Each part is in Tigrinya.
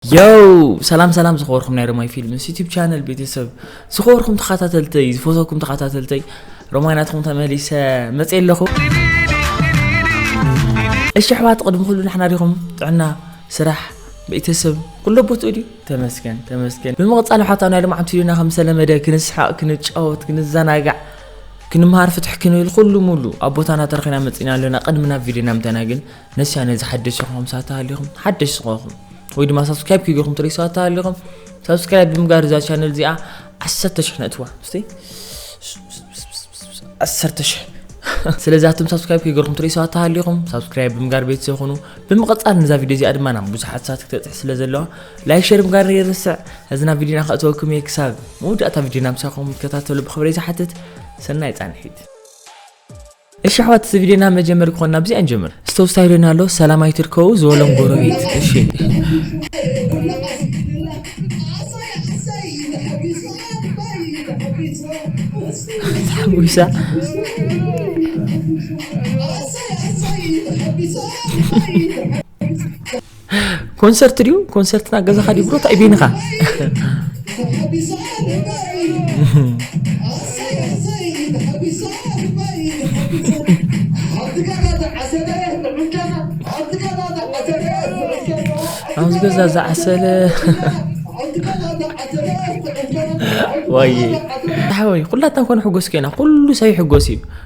ዮው ሰላም ሰላም ዝኸበርኩም ናይ ሮማይ ፊልምስ ዩቲብ ቻነል ቤተሰብ ዝኸበርኩም ተኸታተልተይ ዝፈተኩም ተኸታተልተይ ሮማይ ናትኩም ተመሊሰ መፅ ኣለኹ እሺ ኣሕዋት ቅድሚ ኩሉ ንሕና ዲኹም ጥዕና ስራሕ ቤተሰብ ኩሎ ቦትኡ ድዩ ተመስገን ተመስገን ብምቕፃል ሓታ ናይ ልምዓት ቪድዮና ከም ዝተለመደ ክንስሓቕ ክንጫወት ክንዘናጋዕ ክንምሃር ፍትሕ ክንብል ኩሉ ሙሉ ኣብ ቦታና ተረኺና መፂና ኣለና ቅድሚ ናብ ቪድዮና ምተና ግን ነሲያ ነዚ ሓደሽ ዝኾንኩም ሰባት ተሃሊኹም ሓደሽ ዝኾንኩም ወይ ድማ ሳብስክራይብ ክይገኹም ትሪኢ ሰባት ተሃሊኹም ሳብስክራይብ ብምጋር እዛ ቻነል እዚኣ ዓሰርተ ሽሕ ነእትዋ እስቲ ዓሰርተ ሽሕ ስለዚ ኣቶም ሳብስክራይብ ክይገርኩም ትሪኢ ሰባት ተሃሊኹም ሳብስክራይብ ብምጋር ቤተሰብ ኹኑ ብምቕፃል ነዛ ቪድዮ እዚኣ ድማ ናብ ብዙሓት ሰባት ክትበፅሕ ስለ ዘለዋ ላይክ ሸር ምጋር ይርስዕ እዚ ናብ ቪድዮና ከእተወኩም እየ ክሳብ መወዳእታ ቪድዮና ምሳኹም ትከታተሉ ብክብሪ ዝሓትት ሰናይ ፃንሒት እሺ ኣሕዋት እዚ ቪድዮና መጀመሪ ክኾና ብዚኣ ንጀምር እስቲ ተወስታይ ዶና ኣሎ ሰላም ኣይትርከቡ ዝበሎም ጎረቤት እሺ ተሓጒሳ ኮንሰርት ድዩ ኮንሰርት ናብ ገዛኻ ድዩ ብሮት ኣይቤንኻ ኣብዚ ገዛ ዝዓሰለ ዋይ ሓወይ ኩላትና ኮነ ሕጎስ ኮይና ኩሉ ሰብ ይሕጎስ እዩ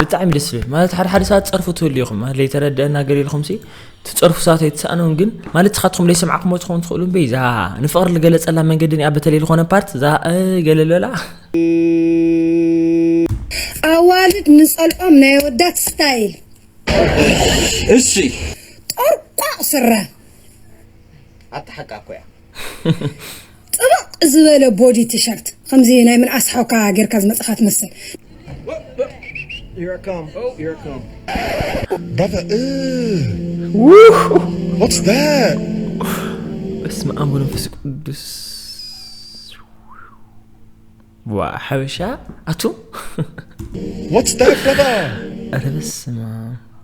ብጣዕሚ ደስ ዝብል ማለት ሓደ ሓደ ሰባት ፀርፉ ትህሉ ኢኹም ማለት ዘይተረድአና ገር ኢልኹም ሲ ትፀርፉ ሰባት ኣይትሰኣነውን ግን ማለት ስኻትኩም ዘይሰምዓኹሞ ትኸውን ትኽእሉ እምበይ እዛ ንፍቕሪ ዝገለፀላ መንገዲ እኒኣ በተለይ ዝኾነ ፓርት እዛ ገለ ልበላ ኣዋልድ ንፀልኦም ናይ ኣወዳት ስታይል እሺ ጦርቋቕ ስረ ኣታ ሓቃ እኮ እያ ጥብቕ ዝበለ ቦዲ ቲሸርት ከምዚ ናይ ምንኣስ ሓውካ ጌርካ ዝመጽኻ ትመስል Brother, what's that? በስመ አብ ወመንፈስ ቅዱስ ዋ ሓበሻ ኣቱ What's that, brother? ኧረ በስመ አብ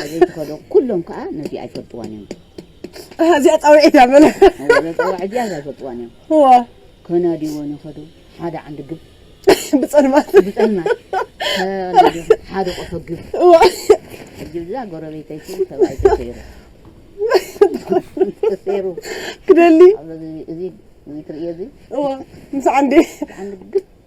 ኣበይ ትኸዶ ኩሎም ከዓ ነዚኣ ኣይፈልጥዋን እዮም እዚኣ ፃውዒት እያ በለ ፃውዒት እዚኣ እዛ ኣይፈልጥዋን እዮም ከናዲወን ይኸዱ ሓደ ዓንዲ ግብ ብፀልማት ብፀልማት ሓደ ቆፎ ግብ ግብዛ ጎረቤተይሲ ሰብኣይ ተሰይሩ ተሰይሩ ክደሊ እዚ ትርእዮ እዚ ምስ ዓንዲ ዓንዲ ግብ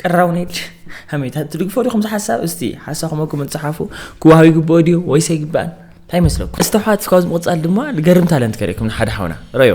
ቅራው ነድ ሃሜታ ትድግፎ ዲኹም ዝሓሳብ እስቲ ሓሳኹም ኣኩም እትፅሓፉ ክዋሃብ ይግብኦ ድዩ ወይስ ኣይግባእን እንታይ ይመስለኩም እስቲ ኣሕዋት ካብዚ ምቕፃል ድማ ገርም ታለንት ከርእኩም ንሓደ ሓውና ረዮ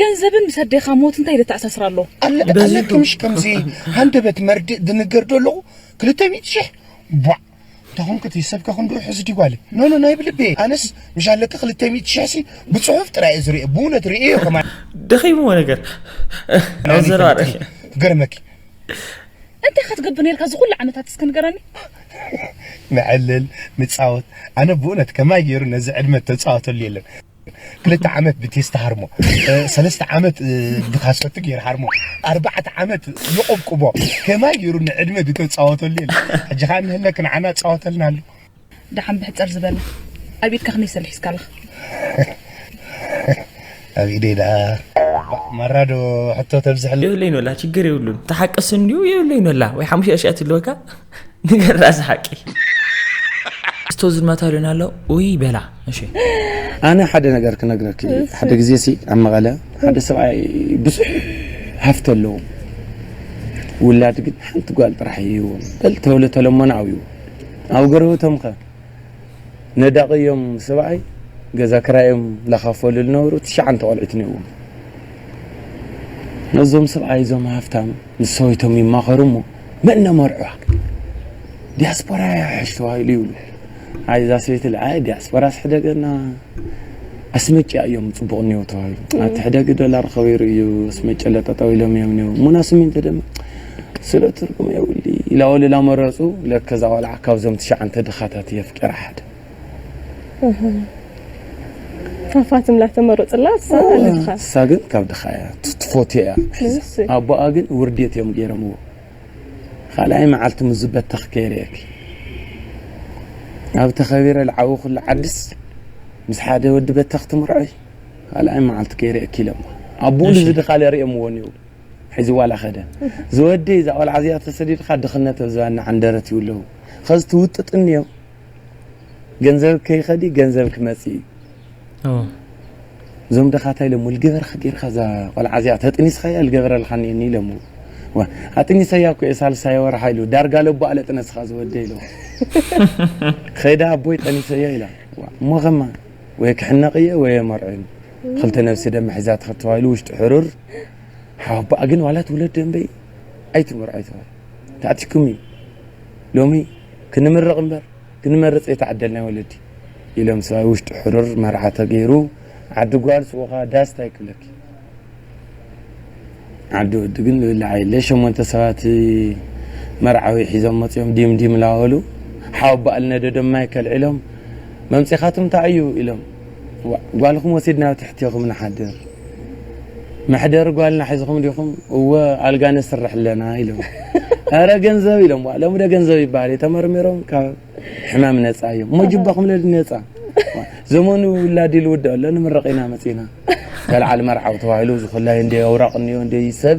ገንዘብን ምስ ኣዴኻ ሞት እንታይ ዘተኣሳስር ኣሎ ኣለክምሽ ከምዚ ሃንደበት መርድእ ድንገር ዶ ኣለኹ ክልተ ሚእቲ ሽሕ ቧዕ እንተኾንክቲ ሰብከ ክንድኡ ሕዚ ዲ ጓለ ኖኖ ናይ ብልቤ ኣነስ ምሽ ኣለኪ ክልተ ሚእቲ ሽሕ ሲ ብፅሑፍ ጥራይ እዩ ዝርኦ ብእውነት ርእዮ ከማ ደኺምዎ ነገር ኣብ ዘረባ ርእየ ገርመኪ እንታይ ካ ትገብር ነርካ እዚ ኩሉ ዓመታት እስከ ንገረኒ ንዕልል ንፃወት ኣነ ብእውነት ከማይ ገይሩ ነዚ ዕድመ ተፃወተሉ የለን ክልተ ዓመት ብቴስታ ሃርሞ ሰለስተ ዓመት ብካሰቲ ገይር ሃርሞ ኣርባዕተ ዓመት ይቆብቁቦ ከማይ ገይሩ ንዕድመ ድተፃወተሉ የለ ሕጂ ከዓ ንህለክ ንዓና ፃወተልና ኣሎ ደሓን ብሕፅር ዝበለ ኣብ ኢድካ ክንደይ ሰልሒ ሒዝካ ኣለኻ ኣብ ኢደይ ደኣ ማራዶ ሕቶ ተብዝሕለ የብለይን ወላ ችግር የብሉን ተሓቀስ እንዲዩ የብለይን ወላ ወይ ሓሙሽተ ሽኣት ኣለወካ ንገራ እዚ ሓቂ ስቶ ዝድመታ ሉን ኣሎ ውይ በላ እሺ ኣነ ሓደ ነገር ክነግረኪ ሓደ ግዜ ሲ ኣብ መቐለ ሓደ ሰብኣይ ብዙሕ ሃፍቲ ኣለዎ ውላድ ግን ሓንቲ ጓል ጥራሕ እዩ በል ተብሎ ተለሞነ ዓብዩ ኣብ ገረውቶም ከ ነዳቒ እዮም ሰብኣይ ገዛ ክራዮም ላኻፈሉ ዝነበሩ ትሽዓንተ ቆልዑት እኒኦዎም ነዞም ሰብኣይ እዞም ሃፍታም ምስ ሰበይቶም ይማኸሩ እሞ መን ነመርዕዋ ዲያስፖራ እያ ሕሽ ተባሂሉ ይብሉ። ኣይ እዛ ሰበይቲ ልዓለ ዲያስፖራስ ሕደገና ኣስመጭያ እዮም ፅቡቕ እኒው ተባሂሉ ኣብቲ ሕደጊ ዶላር ከበይሩ እዩ ኣስመጭለ ጠጠው ኢሎም እዮም እኒው ሙና ስሚንቶ ድማ ስለ ትርጉም የብሊ ኢላ ወልላ መረፁ። ለከ እዛ ቆልዓ ካብዞም ትሽዓንተ ድኻታት እየ ኣፍቂራ ሓደ ፋፋትም ላተመሮ ፅላ ንሳ ግን ካብ ድኻ እያ ትፎትዮ እያ ሒዛ ኣቦኣ ግን ውርዴት እዮም ገይረምዎ ካልኣይ መዓልቲ ምስ ዝበተኽ ከይርእየኪ ኣብ ተኸቢረ ዝዓወኹሉ ዓድስ ምስ ሓደ ወዲ በተኽ ትምርዖይ ካልኣይ መዓልቲ ከይርእየኪ ኢሎምዋ ኣቦኡ ንዚ ድኻ ለርእየምዎ እኒኡ ሕዚ ዋላ ኸደ ዝወደይ እዛ ቆልዓ እዚኣ ተሰዲድካ ድኽነት ኣብ ዝባና ዓንደረት ይብለዉ ኸዚ ትውጥጥኒ እዮም ገንዘብ ከይኸዲ ገንዘብ ክመጽእ እዩ እዞም ደኻ እንታይ ኢሎሞ ልገበርካ ጌርካ እዛ ቆልዓ እዚኣ ተጥኒስካያ ልገበረልካ እኒአኒ ኢሎሞ ኣጥኒሰያ እኮ እየ ሳልሳይ ወርሓ ኢሉ ዳርጋ ለቦ ኣለ ጥነስኻ ዝወደ ኢሎ ኸይዳ ኣቦይ ጠኒሰዮ ኢላ እሞ ኸማ ወይ ክሕነቕ እየ ወይ የመርዖ ኢሉ ክልተ ነብሲ ደመ ሒዛ ትኸተባኢሉ ውሽጢ ሕሩር ሓወባኣ ግን ዋላ ትውለድ ደንበይ ኣይትመርዖ ይተባሂሉ ተኣቲኩም እዩ ሎሚ ክንምርቕ እምበር ክንመርፅ ዘይተዓደልና ወለዲ ኢሎም ሰብኣይ ውሽጡ ሕሩር መርዓ ተገይሩ ዓዲ ጓል ስወኻ ዳስ ታይ ክብለኪ ዓዲ ወዲ ግን ዝብላዕ የለ ሸሞንተ ሰባት መርዓዊ ሒዞም መፅኦም ዲም ዲም ላበሉ ሓወ በኣል ነደዶም ማይ ከልዒሎም መምፂኻትም እንታይ እዩ ኢሎም ዋእ ጓልኩም ወሲድና ኣብ ትሕቴኹም ንሓድር መሕደሪ ጓልና ሒዝኹም ዲኹም እወ ኣልጋ ነስርሕ ኣለና ኢሎም ኣረ ገንዘብ ኢሎም ዋእ ሎሚ ዶ ገንዘብ ይበሃል እዩ ተመርሚሮም ካብ ሕማም ነፃ እዮም እሞ ጅባኹም ለዲ ነፃ ዘመኑ ውላድ ኢሉ ውድኦ ኣሎ ንምረቕ ኢና መፂና ተልዓል መርዓው ተባሂሉ ዝኹላይ እንደ ኣውራቕ እኒኦ እንደ ሰብ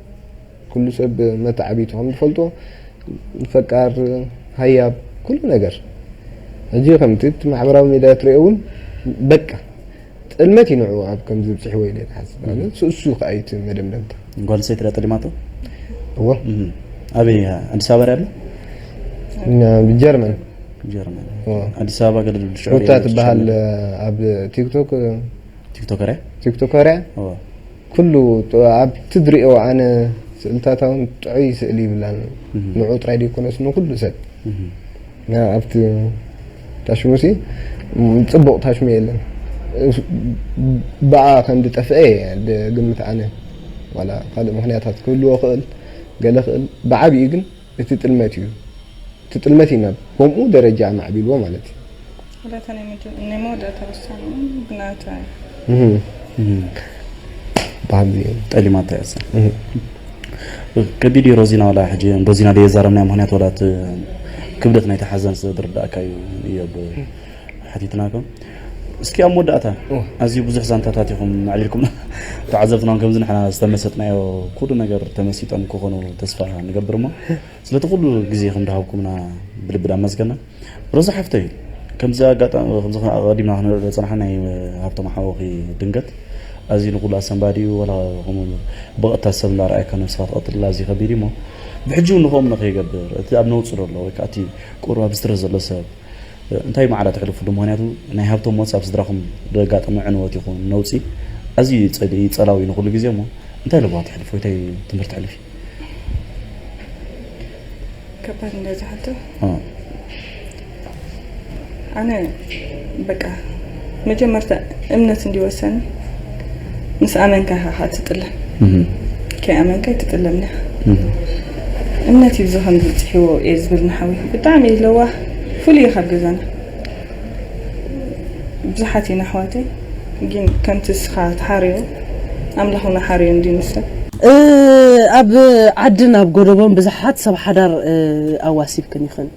ኩሉ ሰብ መታዕቢቱ ከም ዝፈልጦ ፈቃር ሃያብ ኩሉ ነገር ሕጂ ከምቲ እቲ ማሕበራዊ ሚድያ ትሪኦ እውን በቃ ጥልመት እዩ ንዕኡ ኣብ ከምዚ ብፅሕዎ ኢለ ክሓስብ ኣነ ስእሱ ከዓ እዩ እቲ መደምደምታ ጓል ሰይቲ ድኣ ጠሊማቶ እዎ ኣበይ ኣዲስ ኣበባ ድኣ ኣሎ ጀርመን ጀርመን ኣዲስ ኣበባ ገለ ሽዑ ሩታ ትበሃል ኣብ ቲክቶክ ቲክቶከር እያ ቲክቶከር እያ ኩሉ ኣብ ትድሪኦ ኣነ ስእልታታ ውን ጥዑይ ስእሊ ይብላን ንዑ ጥራይ ደይኮነስ ንኩሉ ሰብ ኣብቲ ታሽሙሲ ጽቡቕ ታሽሙ የለን ብኣ ከም ድጠፍአ ግምት ኣነ ዋላ ካልእ ምክንያታት ክህልዎ ክእል ገለ ክእል ብዓቢኡ ግን እቲ ጥልመት እዩ እቲ ጥልመት እዩ ናብ ከምኡ ደረጃ ኣማዕቢልዎ ማለት እዩ። ወላታ ናይ መጀመ ናይ መወዳእታ ውሳነ ውን ብናታ እዩ። በሃልቲ እዮም። ጠሊማታ እያ እሳ ከቢድ እዩ ሮዚና ዋላ ሕጂ ንሮዚና ደየዛረብናያ ምክንያት ዋላ እቲ ክብደት ናይቲ ሓዘን ስለ ዝርዳእካ እዩ እየ ብ ሓቲትናኩም እስኪ ኣብ መወዳእታ ኣዝዩ ብዙሕ ዛንታታት ኢኹም ኣዕሊልኩም ተዓዘብትና ከምዚ ንሕና ዝተመሰጥናዮ ኩሉ ነገር ተመሲጦም ክኾኑ ተስፋ ንገብር እሞ ስለቲ ኩሉ ግዜኹም ድሃብኩምና ብልቢ ዳመስገና ሮዛ ሓፍተይ ከምዚ ኣጋጣሚ ከምዚ ቀዲምና ክንርኢ ዝጸናሕና ናይ ሃብቶም ሓወኺ ድንገት ኣዝዩ ንኩሉ ኣሰንባዲ እዩ ወላ ከምኡ ብቐጥታ ሰብ እንዳረኣየካ ነብስኻ ትቐትል ኣዝዩ ከቢድ እዩ እሞ ብሕጂ እውን ንኸምኡ ንኸይገብር እቲ ኣብ ነውጽ ዘሎ ወይ ከዓ እቲ ቁሩብ ኣብ ስትረስ ዘሎ ሰብ እንታይ ማዕረ ተሕልፉሉ ምክንያቱ ናይ ሃብቶም ሞት ኣብ ስድራኩም ደጋጠመ ዕንወት ይኩን ነውጺ ኣዝዩ እዩ ጸሊኢ ጸላዊ ንኩሉ ግዜ እሞ እንታይ ለበዋ ተሕልፍ ወይ ታይ ትምህርቲ ተሕልፊ ከባድ እንደዛ ሕቶ ኣነ በቃ መጀመርታ እምነት እንዲወሰን ምስ ኣመንካ ኢኻ ካ ትጥለም ከይኣመንካ ኣይትጥለምን ኢኻ እምነት እዩ እዚ ከምዚ ፅሒዎ እየ ዝብል ንሓዊ ብጣዕሚ እዩ ለዋህ ፍሉይ እዩ ካብ ገዛና ብዙሓት ኢና ኣሕዋተይ ግን ከምቲ እስኻ ትሓርዮ ኣምላኽ እውን ሓርዮ እንዲ ንሰብ ኣብ ዓድን ኣብ ጎደቦን ብዙሓት ሰብ ሓዳር ኣዋሲብክን ኢኽን።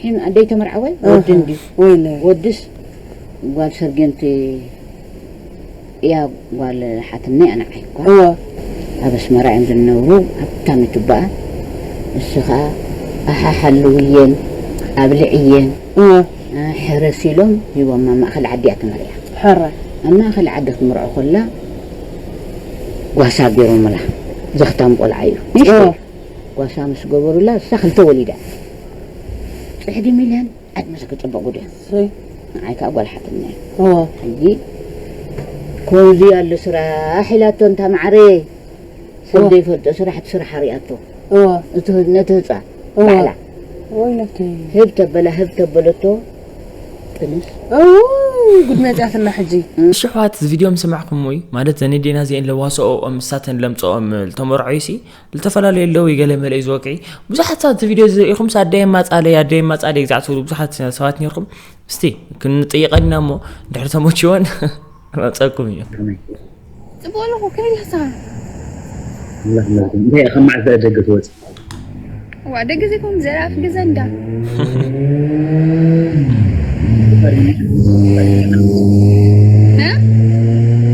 ሒም ኣደይ ተመርዓወ ወዲ እንድዩ ወይለይ ወድስ ጓል ሰርጌንቲ እያ ጓል ሓትነይ ኣንዓይ እኳ እወ ኣብ ኣስመራ እዮም ዝነብሩ ሃብታም እዩ ትባኣል ንሱ ከኣ ኣሓ ሓልውየን ኣብልዕየን እወ ሕረሲ ኢሎም ሂቦማ ኣብ ማእከል ዓዲ እያ ተመሪዓ ሕራይ ኣብ ማእከል ዓዲ ክትምርዖ ከላ ጓሳ ጌሮምላ ዘኽታም ቆልዓ እዩ ንእሽተይ እወ ጓሳ ምስ ገበሩላ ንሳ ክልተ ወሊዳ እያ ፅሕዲ ሚልዮን ዕድመ ክፅብቅ ጉድ እዩ ሰይ ንዓይ ከዓ ጓል ሓትነ ዋ ሕጂ ከምዚ ኣሎ ስራሕ ኢላቶ እንታ ማዕረይ ሰብ ዋ ዘይፈልጦ ስራሕ እቲ ስራሕ ኣሪኣቶ ዋ እቲ ህ- ነቲ ህፃን ዋ ባዕላ ወይ ነብተይ ህብ ተበላ ህብ ተበለቶ ጥንስ እውይ ጉድ መፅያትና ሕጂ ኣሽሕዋት እዚ ቪድዮ ምስ ሰማዕኩምዊ ማለት ዘን ኣዴና እዚኤን ለዋስኦኦም ንሳተን ለምፀኦምል ተመርዖዩሲ ልተፈላለዩ ኣለዉ ዩ ገለ መለ ዩ ዝወቅዒ ብዙሓት ሰባት እቲ ቪድዮ ዝርእኹም ስ ኣደይ ኣማጻለይ ኣደይ ኣማጻለይ ግዛዕ ትብሉ ብዙሓት ሰባት ነርኩም እስቲ ክንጥይቐና እሞ ድሕሪ ተመችወን መፀኩም እዩ ፅቡቅ ኣለኹ ከመይ ኣለኻ እንታይ ከም መዓዝ ደገ ትወፅ ዋ ደገ ዘይኮም ዘርኣፍ ገዛ እንዳ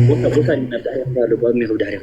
ቦታ ቦታ ዳሕሪኹ ዳሎ ጓሚ ይኹብ ዳሕሪኹ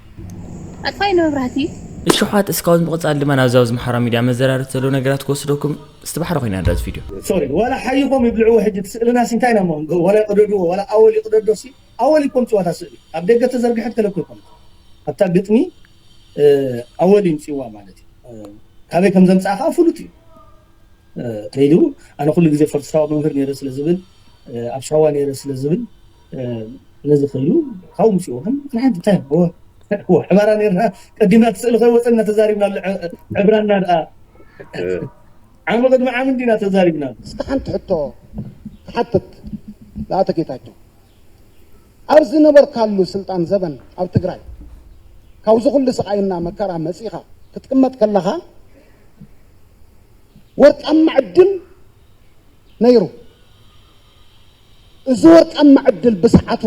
ኣጥፋኢኒ መብራህቲ። እሹሓት እስካውን ብምቅጻል ድማ ናብዚ ኣብዚ ማሕበራዊ ሚድያ መዘራረብቲ ዘለዉ ነገራት ክወስደኩም እስቲ ባሕሪ ኮይና ንርኣ እዚ ቪድዮ። ሶሪ ዋላ ሓይኾም ይብልዕዎ ሕጂ እቲ ስእልናሲ እንታይ ኢና እሞ ክንገብር ዋላ ይቅደድዎ ዋላ ኣወል ይቅደዶሲ ኣወል እዩ ከምጽዋ እታ ስእሊ ኣብ ደገ ተዘርግሐት ገለ እኮ ኣይኮነትን ኣብታ ግጥሚ ኣወል እዩ ምጽዋ ማለት እዩ ካበይ ከም ዘምጽኣ ከኣ ፍሉጥ እዩ ከይዱ ኣነ ኩሉ ግዜ ፈርትሳዋ መምህር ነይረ ስለ ዝብል ኣብ ሳዋ ነይረ ስለ ዝብል ነዚ ክሉ ካብ ውሽኡ ግን ንሓንቲ እንታይ ዕባራ ነርና ቀዲምና እቲ ስእሊ ከይወፀና ተዛሪብና ኣሎ ዕብራና ድኣ ዓሚ ቅድሚ ዓሚ እንዲና ተዛሪብና እስኪ ሓንቲ ሕቶ ክሓትት ንኣቶ ጌታቸው ኣብ ዝነበርካሉ ስልጣን ዘበን ኣብ ትግራይ ካብዚ ኩሉ ስቃይና መከራ መፂኻ ክትቅመጥ ከለኻ ወርቃማ ዕድል ነይሩ እዚ ወርቃማ ዕድል ብሰዓቱ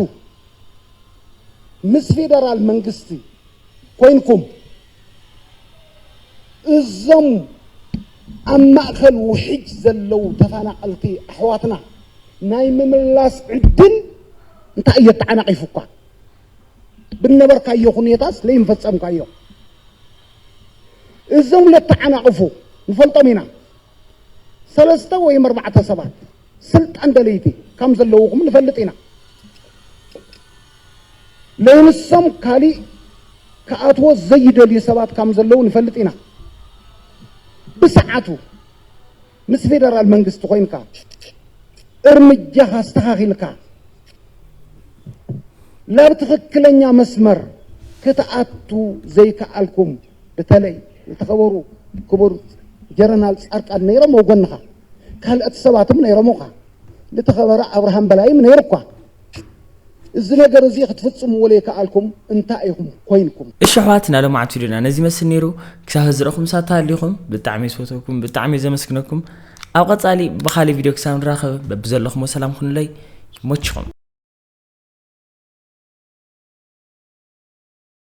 ምስ ፌደራል መንግስቲ ኮይንኩም እዞም ኣብ ማእከል ውሕጅ ዘለው ተፈናቐልቲ ኣሕዋትና ናይ ምምላስ ዕድል እንታይ እየ ተዓናቒፉካ ብነበርካዮ ኩኔታስ ለይምፈጸምካዮ እዞም ለተዓናቕፉ ንፈልጦም ኢና ሰለስተ ወይም ኣርባዕተ ሰባት ስልጣን ደለይቲ ከም ዘለውኹም ንፈልጥ ኢና ለይንሶም ካሊእ ክኣትዎ ዘይደልዩ ሰባት ከም ዘለዉ ንፈልጥ ኢና ብሰዓቱ ምስ ፌደራል መንግስቲ ኮይንካ እርምጃኻ ኣስተኻኺልካ ላብ ትኽክለኛ መስመር ክትኣቱ ዘይከኣልኩም ብተለይ ዝተኸበሩ ክቡር ጀረናል ጻድቃን ነይሮም ኣብ ጎንኻ ካልኦት ሰባትም ነይሮምኻ ዝተኸበረ ኣብርሃም በላይም ነይሩኳ እዚ ነገር እዚ ክትፍጽምዎ ዘይከኣልኩም እንታይ ኢኹም ኮይንኩም እሺ ኣሕዋት ናይ ሎማዓንቲ ቪድዮና ነዚ ይመስል ነይሩ ክሳብ ሕዚ ረኹም ሳታ ኣሊኹም ብጣዕሚ ዝፈተኩም ብጣዕሚ ዘመስግነኩም ኣብ ቀጻሊ ብኻሊእ ቪድዮ ክሳብ ንራኸብ በብዘለኹሞ ሰላም ኩኑለይ ይሞችኹም